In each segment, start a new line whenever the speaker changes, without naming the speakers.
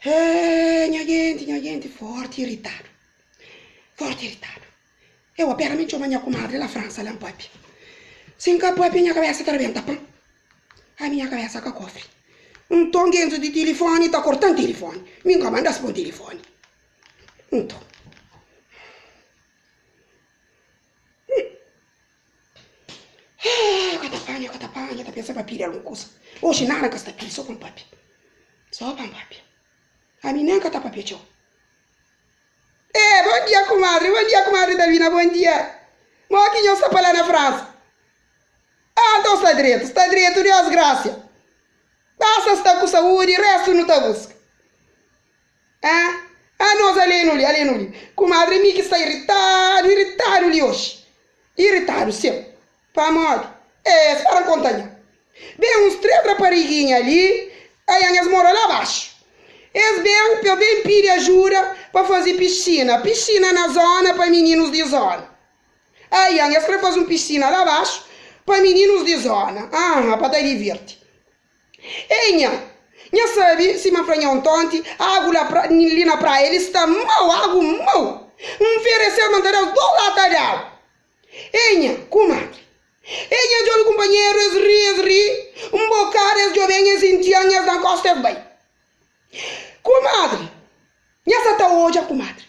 Eeh nha genti, nha genti forti iritadu, forti iritadu. Eu apera mi txoma nha kumadri la Fransa la npapia. Si nka papia nha kabesa ta rebenta pan. Ami nha kabesa ka kofri. Nton genzo di tilifoni ta kortan tilifoni, mi nka mandas pon tilifoni. Nton. Eeh, ka ta panha, ka ta panha, ta pensa pa pidi algun kusa. Oji nada n ka sta pidi, so pa n papia. So pa n papia. Ami nen ka ta papia txeu. Eeh, bon dia kumadri, bon dia kumadri Davina, bon dia. Mo ki nho sta pa la na Fransa? Ah, nton sta dretu, sta dretu, Deus grasia. Basta n sta ku saúdi, restu nu ta buska. Ah, ah nos alenu li, alenu li. Kumadri mi ki sta iritadu, iritadu li oxi. Iritadu seu. Pamodi? Eh, spera N konta nha. Ben, uns três rapariguinha li, ayan es mora la baxu. Es ben pa ben pidi ajuda pa fazi piscina, piscina na zona pa mininus di zona. Ayan, es kre fazi un piscina la baxu pa mininus di zona, aha, pa ta divirti. Ei nha! Nha sabi si ma fla-nha un tonti, agu la pra, li na praia li sta mau, agu mau! N fereseu ma N ta da-l dô lata d'agu. Ei nha! Kumadri! Ei nha djolu kunpanheru, es ri, es ri, un bokadu es djoben, es intyan, es da-m kósta, es bai. Kumadri! Nha sa ta odja, kumadri.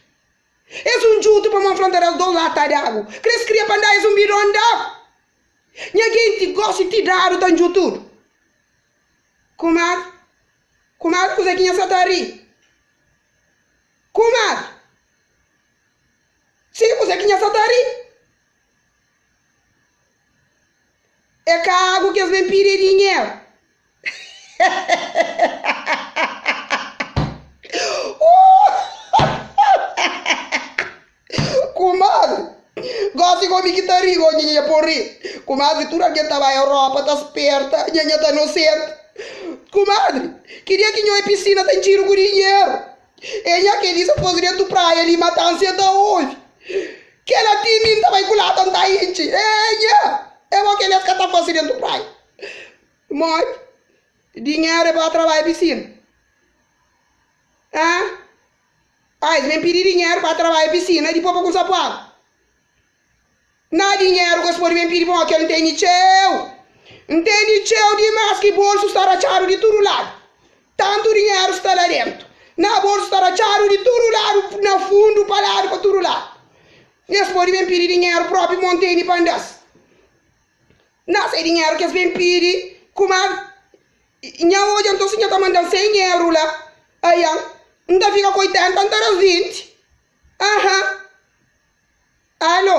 Es un djutu pamó N fla N ta da-l dô lata d'agu. Krê es kria pa N da es un bidon d'agu. Nha genti gosi ti dadu ta nju tudu Kumar Kumar kuza ki nha sa ta ri Kumar Sim kuza ki nha sa ta ri E kagu ki es ben pidi e dinheru Kumadri, gosi komi ki ta ri, oh Nhanha pô ri. Kumadri, tudu algen ta bai Europa ta sperta, Nhanha ta nosenta. Kumadri, ki dia ki nho e pisina ta intxidu ku dinheru. E nha keli sa pôs dentu praia li mata ansi el ta ovi. Kela ti mi n ta bai kulata n ta intxi, eh nha, e bo keli es ka ta fase dentu praia. Modi dinheru é ba trabalha pisina? Ãh? Ah, es ben pidi dinheru pa trabalha pisina dipô pa kumsa pua agu? Na dinheru ku es podi ben pidi pa un okel ntende txeu, ntende txeu dimas ki bolsu sta ratxadu di tudu ladu. Tantu dinheru sta la dentu, na bolsu sta ratxadu di tudu ladu, na fundu, pa ladu, pa tudu ladu. Es podi ben pidi dinheru propi mo ntende pa nda-s. Nhas é dinheru ki es ben pidi kuma nha odja nton si nha ta mandan sen nhero la aian n ta fika ku oitenta n ta da vinti aha alo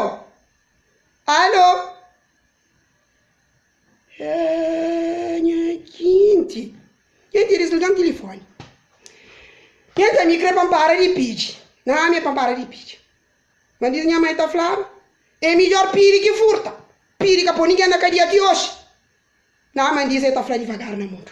alo eh nha jinti nha ti disligan tilifoni nha ta ami kre pa n para di pidi nha ami pa n para di pidi Ma diz nha mai ta flaba. É midjór pidi ki furta. Pidi ka pô ningen na kadia ti oji. Na Aman diz el ta fla divagar na mudu.